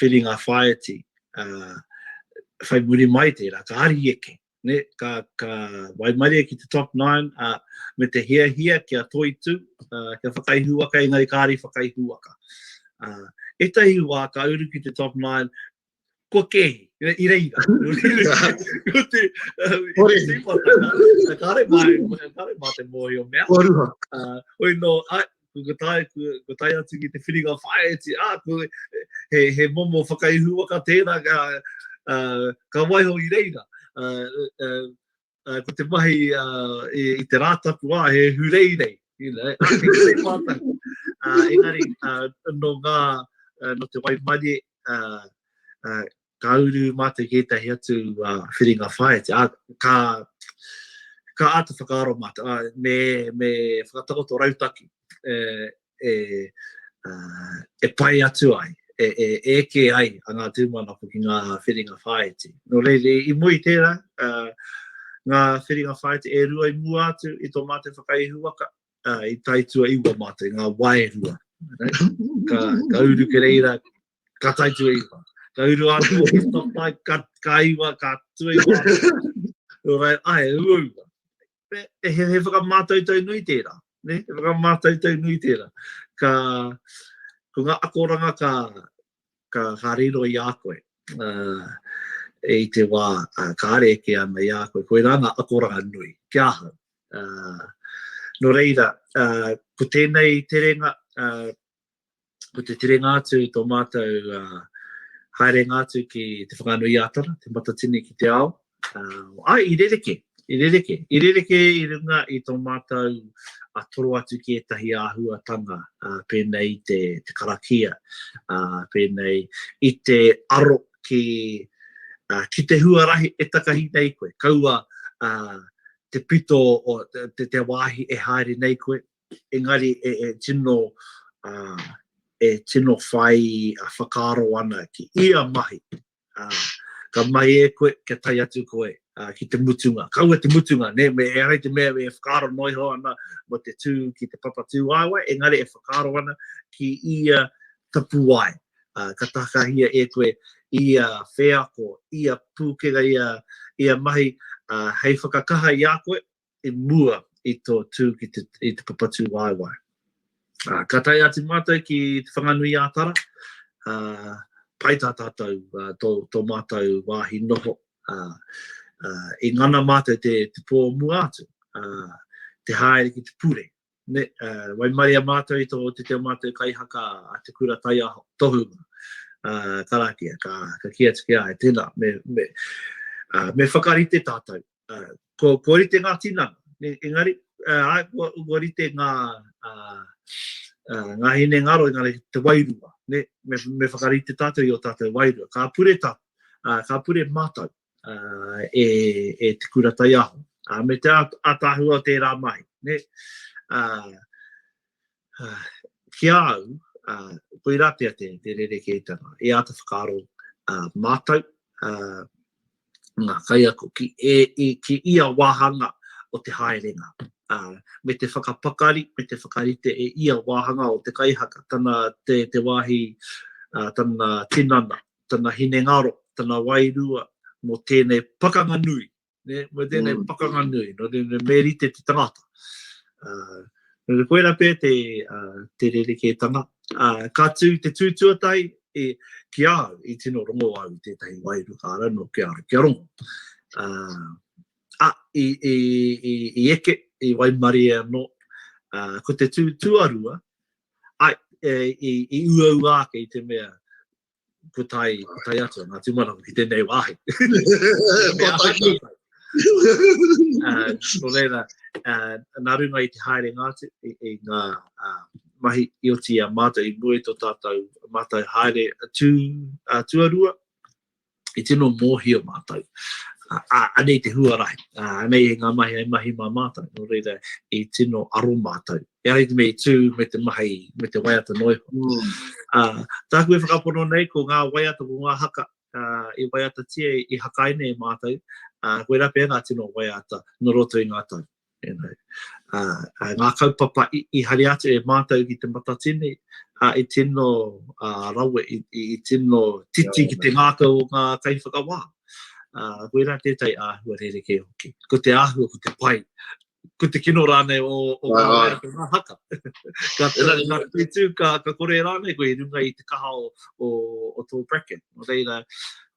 whiringa whāiti, whai muri mai tērā, ka ariheke, ne, ka, ka waimarie ki te top nine, a, me te hiahia kia toitu, a, kia whakaihuwaka, engari kāri whakaihuwaka. A, etahi wā ka uru ki te top nine, kua kēhi, i reira. Ko te... Kore. Kāre mā, kāre mā te mōhio mea. Kua ruha. Uh, oi no, Kua tae, kua tae atu ki te whiringa whāiti, ā, kua, he, he momo whakaihu waka tērā, ka, uh, ka waiho i reira. Uh, uh, uh, ko te mahi uh, i, i te rātapu, ā, he hureirei, you know, ā, kei te pātaku. Uh, engari, uh, no ngā, uh, no te waimarie, uh, uh, ka uru mātou ki ētahi atu uh, whiringa whaiti, a, ka, ka āta whakaaro mātou, a, me, me whakatakoto rautaki e, e, a, e pai atu ai, e, e, e ke ai a ngā tūmanako ki ngā whiringa whaiti. Nō reire, i mui tērā, a, ngā whiringa whaiti e rua i mua atu i tō mātou whakaihu waka, a, i taitua iwa mātou, ngā waerua. Ka, ka uru ke reira, Ka tai tu e iwa. Ka uru a tu e topai, ka, ka iwa, ka tu e iwa. Nō rai, ai, ua ua. He, he, he whakamātautau nui tērā. Ne? He whakamātautau nui tērā. Ka, ko ngā akoranga ka, ka, ka riro i a koe. Uh, e i te wā uh, ka are eke ana i a koe. Koe rā ngā akoranga nui, ki ahau. Uh, no reira, uh, ko tēnei terenga, uh, ko te turenga atu i tō mātou uh, haerenga atu ki te whakanui ātara, te matatini ki te ao. Uh, ai, i rereke, i rereke, i rereke i runga i tō mātou a toro atu ki ētahi āhuatanga uh, pēnei i te, te karakia, uh, pēnei i te aro ki, uh, ki te huarahi e takahi nei koe. Kaua uh, te pito o te, te wāhi e haere nei koe, engari e tino, e tino whai whakaaro ana ki ia mahi, ā, ka mai e koe kia tae atu koe ki te mutunga, kaua te mutunga, nē, me ehara i te mea e whakaaro noa iho ana mō te tū ki te papatūāwae, engari e whakaaro ana ki ia tapuwae, ā, ka takahia e koe ia wheako, ia pūkenga, ia, ia mahi, ā, hei whakakaha i a koe, i mua i tō tū ki te, i te papatū waewae. Uh, ka tae atu mātou ki Te Whanganui Ātara, uh, pai tā tātou uh, tō, tō mātou wāhi noho. Uh, uh, I ngana mātou te, te pō mua atu, uh, te haere ki te pure. Ne, uh, wai maria mātou i tō te teo mātou kai haka a te kura tai aho, tohu mā. Uh, karakia, ka, ka kia tuki ai, tēnā, me, me, uh, me whakarite tātou. kua rite ngā tinana, engari, āe, kua rite ngā hinengaro, engari, te wairua, nē, me whakarite tātou i ō tātou wairua. Ka pure tā, ka pure mātou e te kura taiaho, me te ātaahua o tērā mahi, nē. Ki a au, koirā pea te rerekētanga e āta whakaaro mātou, ngā kaiako, ki ia wāhanga o te haerenga, me te whakapakari, me te whakarite e ia wāhanga o te kaihaka, tana te wāhi, tana tinana, tana hinengaro, tana wairua mō tēnei pakanga nui, ne, mo tēnei mm. pakanga nui, no tēnei me rite te tangata. Uh, no te koera pē te, uh, te rerekētanga. Uh, ka tū te tūtuatai e, ki a au, i tino rongo au i tētahi wairu ka ara no kia ara, kia rongo. Uh, a, i, i, i, i eke, i waimari e anō, uh, ko te tū tuarua, ai, e, i, i uaua ake i te mea, putai, putai atu ngā tūmanako ki tēnei wāhi. Ko tahi. Ko reira, nā runga i te haere ngā te, i, i ngā uh, mahi i oti a mātou i mue tō tātou, mātou haere tū, uh, tuarua, i tino mōhio mātou. Uh, anei te huarahi, uh, anei ngā mahi ai mahi mā mātou, nō reira i tino aro mātou E ai te mea i tū me te mahi, me te waiata noa iho. Mm. Uh, tāku e whakapono nei ko ngā waiata, ko ngā haka uh, i waiatatia, i hakai nei e mātou, uh, koe rape e ngā tino waiata no roto i ngā tau. You know. uh, uh, ngā kaupapa i, i hari atu e mātou ki te matatini, uh, i tino uh, rawe, i, i, i tino titi ki te ngākau o ngā kaiwhakawā. Uh, koe rā tētai āhua rerekē hoki. Ko te āhua, ko te pai, ko te kino rānei o, o ngā waiata, ngā haka. ka, ka, ka tū, ka, ka kore rānei koe i runga i te kaha o, o, o tō bracket. Nō reira,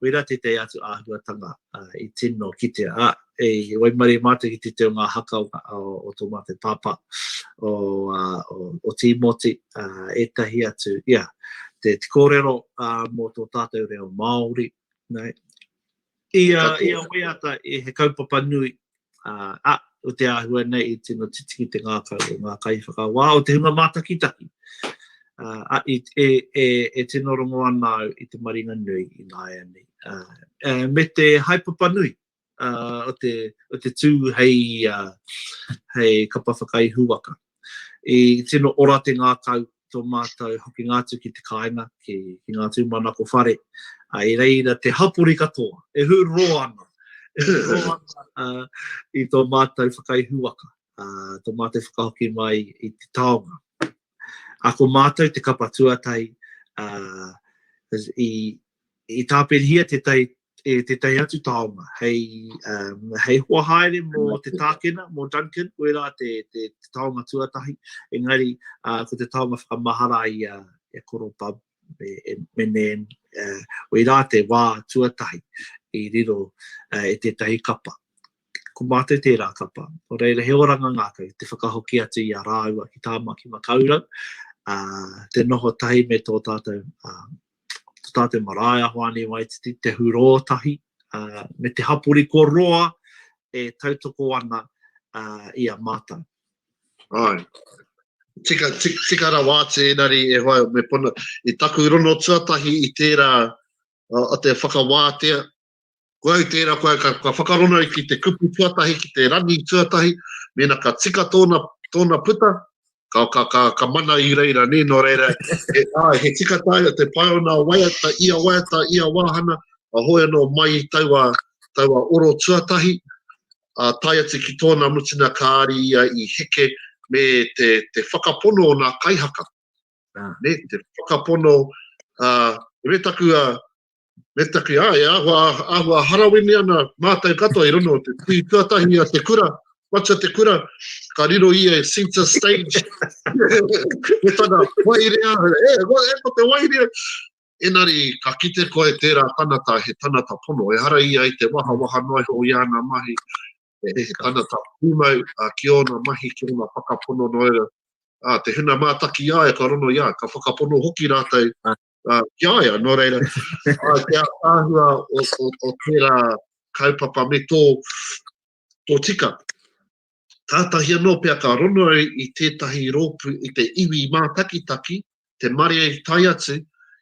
reira te te atu āhuatanga uh, i tino kitea. Ah, e, e waimare mātou ki te te o ngā haka o, o, o tō mātou pāpā, o, uh, o, o Tīmoti, uh, etahi atu, ia, yeah, te, te kōrero uh, mō tō tātou reo Māori, nei, I a waiata e he kaupapa nui a o te ahua nei i tino titiki te ngakau o nga kai whakawa o te hunga matakitaki a i e e e tino rongo ana au i te maringa nui i nga ea nei a me te haepapa nui a o te o te tu hei a hei kapa whakaihuwaka I tino ora te ngākau tō mātou hokinga atu ki te kāinga, ki ngā tūmanako whare, ā, i reira te hapori katoa e hūroro ana, e hūroro ana i tō mātou whakaihu waka, ā, tō mātou whakahoki mai i te taonga. Ā, ko mātou te kapa tuatahi, ā, i, i tāpirihia tētahi e tētahi atu taonga, hei, um, hei hoa haere mō te tākena, mō Duncan, koe rā te, te, te taonga tuatahi, engari, uh, ko te taonga whakamahara i a, i a Koro Bub, me, me Nan, uh, wei rā te wā tuatahi i riro uh, e tētahi kapa. Ko mātou tērā kapa, o reira he oranga ngākau, te whakahoki atu i a rāua ki tāma ki makaurau, uh, te noho tahi me tō tātou uh, Te Tātai Marae, Ahoani Waititi, Te Hurō Tahi, me te hapori ko roa e tautoko ana i a mātou. Ai. Tika, tika, tika rawa atu engari e hoa me pono. I taku rono tuatahi i tērā, o te whakawātea, Koe au tērā, koe au, ka, ka whakarona au ki te kupu tuatahi, ki te rangi tuatahi, mēnā ka tika tōna, tōna puta, ka, ka, ka, ka mana i reira, nē, nō reira, he, ai, he tika tāi o te pae o nā waiata, ia waiata, ia wāhana, a hoi anō mai i taua, taua oro tuatahi, a tai atu ki tōna mutina kāri ia i heke me te, te whakapono o nā kaihaka. Ah. Ne, te whakapono, uh, me taku, uh, Me taki, ā, e āhua, āhua harawini ana mātou katoa i rono o te tui tuatahi a te kura, matua te kura, ka riro ia e Center Stage, me tana wairea, e, e, ko, e, ko te wairea, Enari, ka kite koe tērā tanata, he tanata pono, e hara ia i te waha, waha noa iho i ana mahi, e, he tanata pūmau, a, ki ōna mahi, ki ōna whakapono noera, a, te huna mātaki i a ia ka rono i a, ka whakapono hoki rātou, uh, ki a ia, nō reira, uh, te āhua o, o, o tērā kaupapa me tō, tō tika. Tātahi anō pia ka rono ai i tētahi rōpu, i te iwi mātakitaki, te mare tai atu,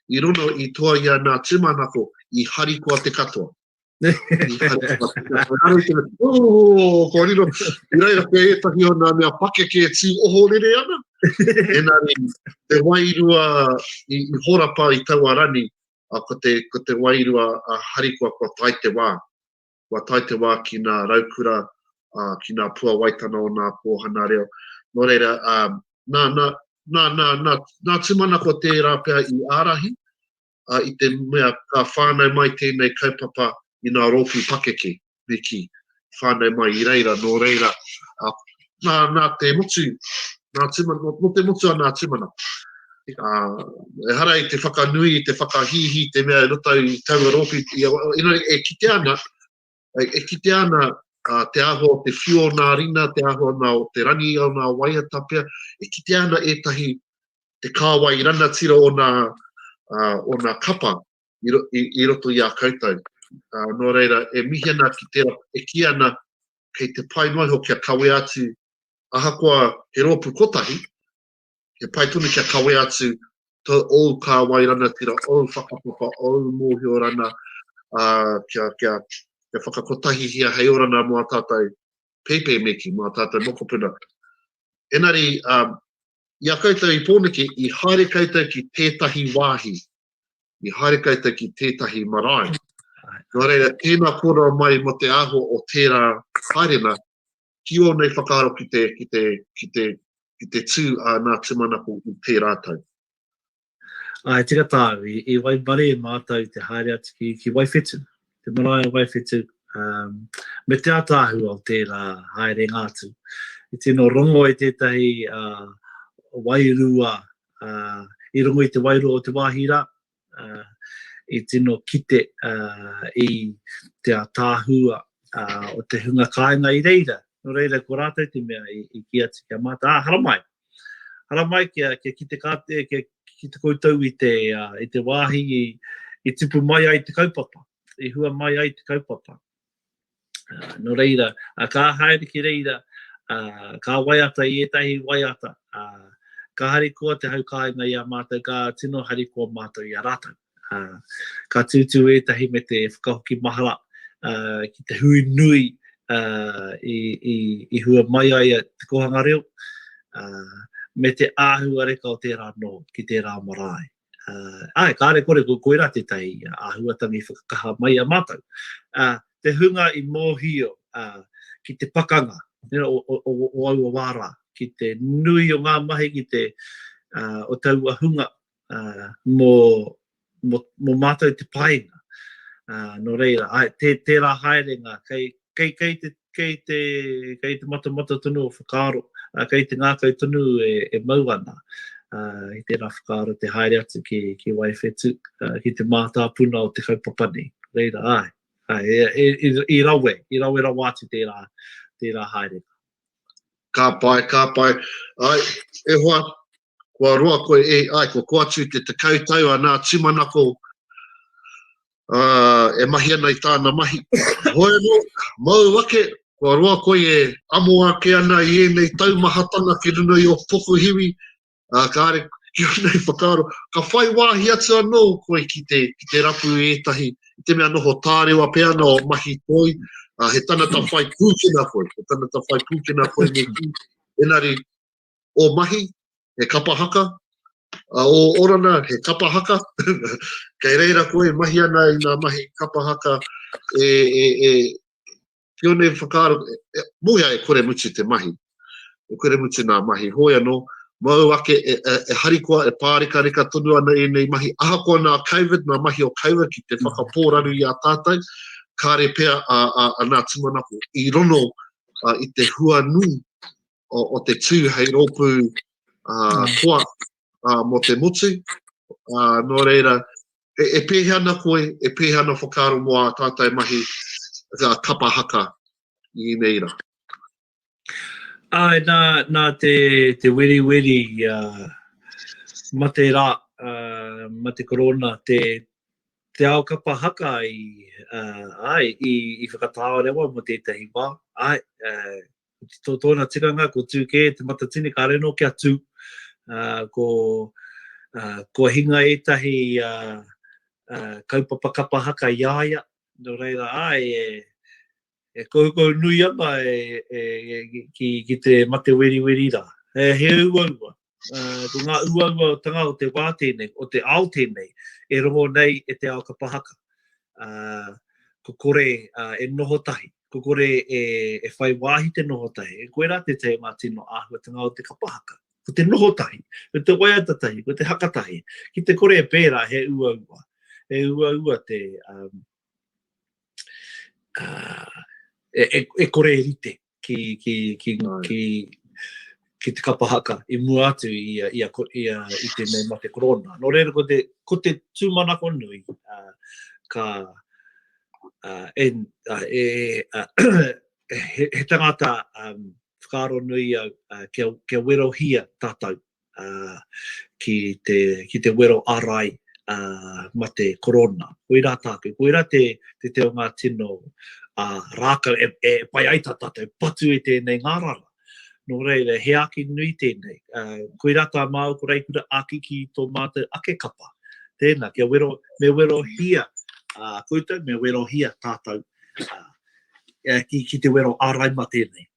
i rono i toa ia nā tūmanako, i harikoa te katoa. oh, kua riro, i reira koe e tahi o nā mea pake ke tī oho rere ana. Ena re, te wairua i, i horapa i taua rani, a, ko, te, ko te wairua a Harikua kua tai te wā. Kua tai te wā ki nā raukura, a, ki nā pua waitana o nā kōhana reo. Nō reira, a, nā, nā, nā, nā, nā, nā tūmanako tērā pea i ārahi, a, i te mea ka whānau mai tēnei kaupapa i nā rōpū pakeke, me kī, whānau mai i reira, nō reira, a, nā, nā te motu, nā tumana, nō, nō te motu a nā tumana. A, e hara i te whakanui, i te whakahīhī, te mea e roto i taua rōpū, i, e, e, e, e, e, e, e, e, e, e, E kitea ana te āhua o te whiu o nā rina, te āhua nā o te rangi o nā waiata pea, e kitea ana ētahi te kāwai rangatira o nā, uh, o nā kapa i, i, i roto i a koutou. Uh, nō reira, e mihi ana ki tērā, e ki ana kei te pai noa iho kia kawea atu ahakoa he rōpu kotahi, He pai tonu kia kawea atu to ou kāwai ranatira, ou whakapapa, ou mōhio rana, uh, kia, kia, kia whakakotahihia hei orana mō a tātou peipei meki, mō a tātou mokopuna. Enari, um, i a koutou i pōneke, i haere koutou ki tētahi wāhi, i haere koutou ki tētahi marae. Nō reira, tēnā kōrero mai mo te aho o tērā haerena, ki ōnei whakaaro ki te, ki te, ki te, ki te tū a nā tūmanako i tērā tau. Ā, e tika tāu, i, i Waimare e mātou te haere atu ki, ki Waiwhetu, te marae o Waiwhetu, um, me te ataahua o tērā haere ngā atu. I tino rongo e tētahi uh, wairua uh, i rongo i te wairua o te wāhi rā, i tino kite i te ataahua o te hunga kāinga i reira, nō reira ko rātou te mea i kī atu ki a mātou, ā, haramai, haramai kia kite kātou, kia kite koutou i te wāhi i tupu mai ai te kaupapa, i hua mai ai te kaupapa. Uh, no reira, uh, ka haere ki reira, uh, ka waiata i etahi waiata, uh, ka hari koa te hau kāinga i a mātou, ka tino hari koa mātou i a rātou. Uh, ka tūtū etahi me te whakahoki mahara uh, ki te hui nui uh, i, i, i hua mai ai te kohanga reo, uh, me te āhua reka o tērā no ki tērā marae. Ā, e kāre kore ko koirā tētahi āhuatanga i whakakaha mai i a mātou. Ā, te hunga i mōhio ki te pakanga o aua wā rā, ki te nui o ngā mahi ki te, o taua hunga mō mātou te painga. Nō reira, tērā haerenga, kei te kei te, kei te matamata tonu o whakaaro, ā, kei te ngākau tonu e, e mau ana, ā, i tērā whakaaro te haere atu ki, ki Waiwhetū, ā, ki te mātāpuna o te kaupapa nei. Reira, āe, āe, e, e, i, i rawe, i rawe rawa atu tērā, tērā haerenga. Ka pai, ka pai. Ai, e hoa, kua roa koe e, ai, kua koa atu i te tekau tau anā tūmanako e mahi ana i tāna mahi. Hoi anō, mau ake, kua roa koe e amo ake ana i ēnei taumahatanga ki runga i o pokuhiwi, ā, kāre, ki runga i whakaaro, ka whai wāhi atu anō koe ki te, ki te rapu i ētahi, i te mea noho tārewa pea ana o mahi toi, ā, he tanata whai pūkena koe, he tanata whai pūkena koe me kī, enari, o Mahi, he kapa haka, a o Orana, he kapa haka, kei reira koe e mahi ana i nga mahi kapa haka e, e, e, kione whakaaro, e, moea e kore mutu te mahi, e kore mutu nga mahi, hoi ano, mau ake e, e, e harikoa, e pāreka reka tonu ana e nei mahi, ahakoa nga COVID, nga mahi o COVID ki te whakapōraru i a tātou, kāre pea a, a, a nga tumanako i rono a, i te hua nui o, o te tū hei rōpū uh, koa uh, mō te motu. Uh, nō reira, e, e pēhea ana koe, e pēhea ana whakaaro mō a tātai mahi ka kapa haka i nei rā. Ai, nā, nā te, te weri weri, uh, ma te rā, uh, ma te korona, te, te ao kapa haka i, uh, ai, i, i whakatāorewa mo tētahi wā, ai, uh, tō tōna tikanga, ko tū kē te matatini, kāre nō kia tū, uh, ko, uh, ko hinga ētahi uh, uh, kaupapa kapa haka i aia, no reira ai e, e koukou nui ana e, e, e, ki, ki te mate weri weri rā. E, he ua ua, ko ngā uauaotanga o te wā tēnei, o te ao tēnei, e rongo nei e te ao kapa haka. Ko kore e noho tahi, ko kore e whai wāhi te noho tahi, e koirā te tei o ngā tino āhuatanga o te kapa haka. Ko te noho tahi, ko te waiata tahi, ko te haka tahi, ki te kore e pērā he uaua. He uaua te, e kore e rite, ki, ki, ki, ki, ki te kapa haka i mua atu i, a, i, a, i, a, i te mei mate korona. Nō reira, ko te, ko te tūmanako nui, uh, ka, uh, en, uh, e, uh, he, he tangata um, whakaaro nui au uh, kia, kia werohia tātou ki te, ki te wero arai mate korona. Koira tātou, koira te, te te o ngā tino rākau e, e pai ai tā tātou patu i tēnei ngārara. Nō reira, he āki nui tēnei. Uh, koira tā māu ko Reikura āki ki tō mātou ake kapa. Tēnā, kia wero, me wero hia uh, koutou, me wero hia tātou uh, ki, ki te wero āraima tēnei.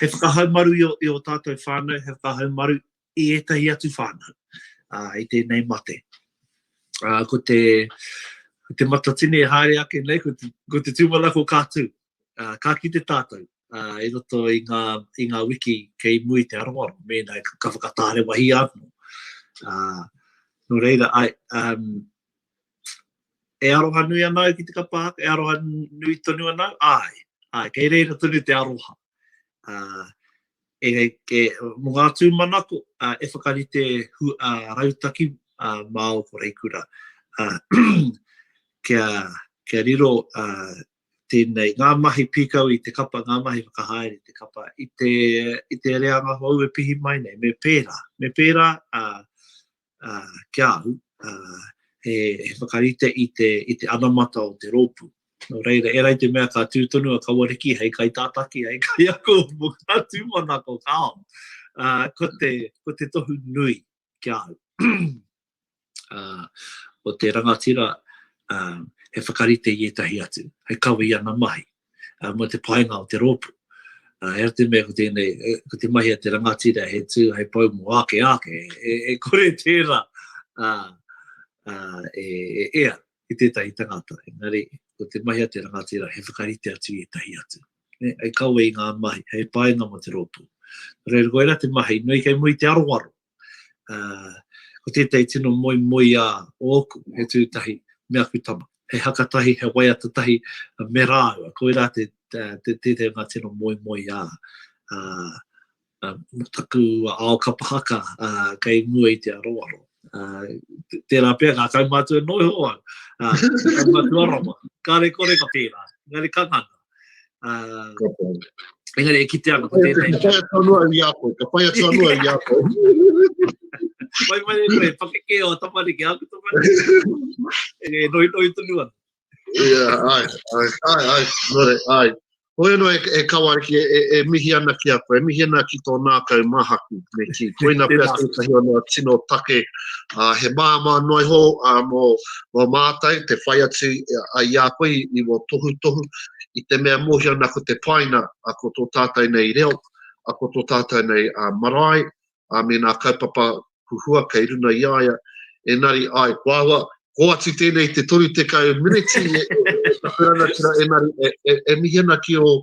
He whakahaumaru i ō tātou whānau, he whakahaumaru i ētahi atu whānau i tēnei mate. Ko te matatini e haere ake nei, ko te tūmanako ka tū, ka kite tātou i roto i ngā wiki kei mua i te aroaro, mēnā ka whakatārewahi anō. Nō reira, E aroha nui ana au ki te kapa haka, e aroha nui tonu ana au, āe, āe, kei reira tonu te aroha. Uh, e, e, mo ngā tūmanako, uh, e whakarite hu, uh, rautaki uh, mā o Koreikura. Uh, kia, kia riro uh, tēnei, ngā mahi pīkau i te kapa, ngā mahi whakahaere i te kapa, i te, i te reanga hou e pihi mai nei, me pērā, me pērā, uh, ki a au, he whakarite i te anamata o te rōpū. Nō reira, e rā te mea ka tū tonu a Kawariki hei kaitātaki, hei kaiako mō ngā tūmanako o Kāo, ko te tohu nui ki a au. Ko te rangatira, he whakarite i ētahi atu, hei kawe i ana mahi. mō te painga o te rōpu. He atu mea ko tēnei, ko te mahi a te rangatira he tū hei pau mō ake ake, e kore tērā e ea ki tētahi tangata. Engari, ko te mahi a te rangatira he whakarite atu i ētahi atu. Hei kawe i ngā mahi, hei painga mō te rōpu. Nō reira, koirā te mahi, nui kei muri te aroaro. Ko tētahi tino moemoeā ōku, he tū tahi me aku tama, he haka tahi, he waiata tahi me rāua. Koirā tētahi o ngā tino moemoeā mō taku ao kapa haka kei mua i te aroaro. Tērā pea ngā kaumātua noho au, ngā kaumātua rawa, kāre kore ka pērā, engari ka ngana. Uh, engari e kite ana ko tēnei. Ka whai atu anua i a koe, ka whai atu anua i a koe. Wai mai e koe, pakeke o tamariki, aku tamariki. E noi noi tonu ana. Ia, ai, ai, ai, ai, nore, ai. Hoi anō e, e kawariki, e, e, e mihi ana ki a koe, e mihi ana ki tō nākau mahaku. Me ki koina pia tētahi o nā tino take, uh, he māma noa iho uh, mō, Kua mātai te whai atu i a koe i ua tohutohu, i te mea mōhio ana ko te paina ko tō tātou nei reo, ko tō tātou nei marae, me nā kaupapa huhua kei runa i a ia, enari, ai, ko ahua, ko atu tēnei te 30 miniti e paku rangatira enari e mihi ana ki o,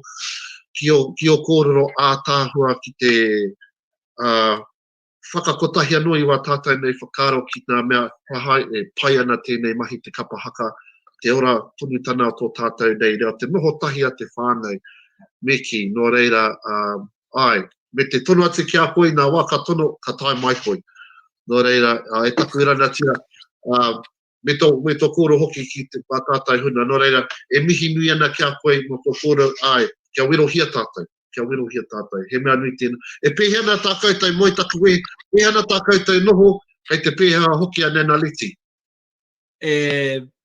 ki o, ki o kōrero ātaahua ki te, ā, whakakotahi anō i wā tātou nei whakaaro ki ngā mea kua e pai ana tēnei mahi te kapa haka, te ora tonutana o tō tātou nei reo, te noho tahi a te whānau, me kī, nō reira, āe, me te tono atu ki a koe ina wā ka tono, ka tae mai koe. Nō reira, e taku rangatira, me tō, me tō kōrero hoki ki te, a tātou huna. Nō reira, e mihi nui ana ki a koe mō tō kōrero, āe, kia werohia tātou, kia werohia tātou. He mea nui tēnā. E pēhea ana tā koutou moe taku wē, pēhea ana tā koutou noho, kei te pēhea hoki a Nana Leti? E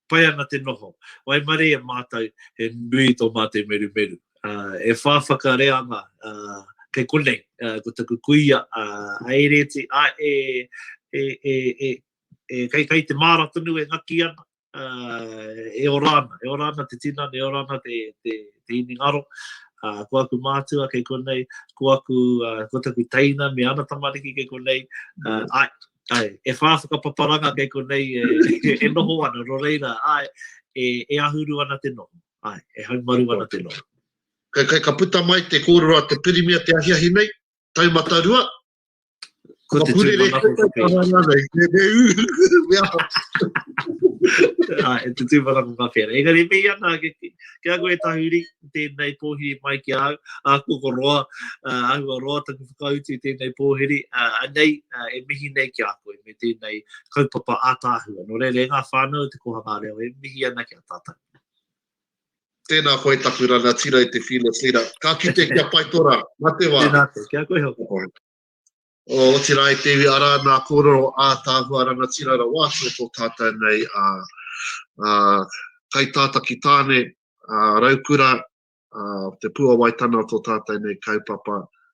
pai ana te noho. Waimarie e mātou, he nui tō mātou merumeru. Uh, e whā whakareanga, uh, kei konei, uh, ko taku kuia, uh, a Ereti, a e, e, e, e, e kai kai te māra tonu e ngaki ana, e ora ana, e ora ana te tinana, e ora ana te, te, te imi ngaro. Uh, ko aku mātua kei konei, ko aku, uh, ko taku teina me ana tamariki kei konei, uh, ai, ai, e whā whakapaparanga kei konei e, e, e noho ana, ro reira, ai, e, e ahuru ana te noho, ai, e haumaru ana te noho. Kai, kai ka puta mai te kōrero a te pirimia te ahiahi nei, taumata rua, Ko te tūpuna ko te pē. Ai, te tūpuna ko ka pēra. Engari, me ia nā, ke, ke ako e tahuri, tēnei pōhiri mai ki au, a koko roa, uh, ahua roa taku whakautu i tēnei pōhiri, uh, anei, uh, e mihi nei ki a koe, me tēnei kaupapa ātāhua. No reira, e ngā whānau te kohanga reo, e mihi ana ki a tātou. Tēnā koe taku rangatira i te Fearless Leader. Ka kite kia pai tō rā. Mā te wā. Tēnā koe. Kia koe hoki. O, otirā e te iwi arā nā kōrero ātaahua rangatira rawa atu o tō tātou nei a, a Kaitātaki Tāne, a Raukura, a Te Pūawaitana o tō tātou nei kaupapa,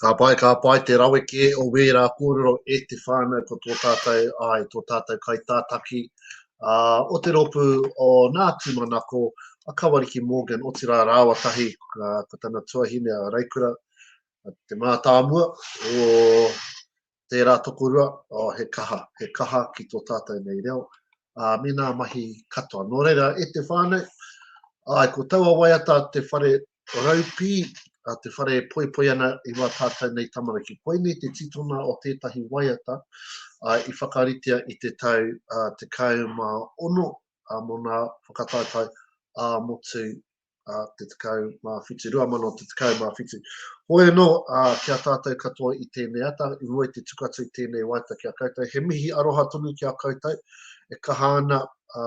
Ka pai, ka pai te rawe kē o wērā kōrero e te whānau ko tō tātou, āe, tō tātou kaitātaki ā, o te rōpū o Nā Tūmanako, a Kawariki Morgan, otirā rāua tahi ko tana tuahine a Reikura, Te Mātāmua, o Tērā tokorua, oh he kaha, he kaha ki tō tātou nei reo, ā, me nā mahi katoa. Nō reira, e te whānau, āe, ko taua waiata te whare raupī, te whare e poipoi ana i wā tātou nei tamariki. Koinei te titona o tētahi waiata i whakaritea i te tau 16 mō nā whakataetae ā-motu a te tekau mā whitu, rua mano te tekau mā whitu. Hoi anō, a, ki a tātou katoa i tēnei ata, i mua i te tuku atu i tēnei waita ki a koutou, he mihi aroha tonu ki a koutou, e kaha ana, a,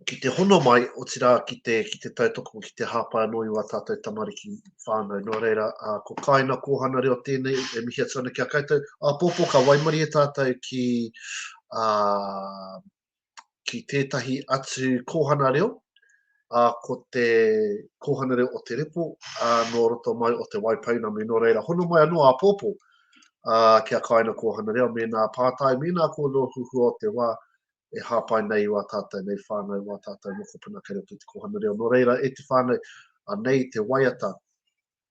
ki te hono mai, o tira ki te, ki te tautoko, ki te hāpai anō i wā tātou tamariki whānau. Nō reira, a, ko kāina kōhana reo tēnei, e mihi atu ana ki a koutou. A, pōpō, ka waimari e tātou ki, a, ki tētahi atu kōhana reo, ā, ko te kōhana reo o te repo, ā, nō roto mai o te Wai Pounamu, nō reira, hono mai anō āpōpō ā, kia kāina kōhana reo, mēnā pātai, mēnā ko ngō huhua o te wā e hāpai nei i wā tātou nei whānau, wā tātou mokopuna kei roto i te kōhana reo. Nō reira, e te whānau, anei te waiata,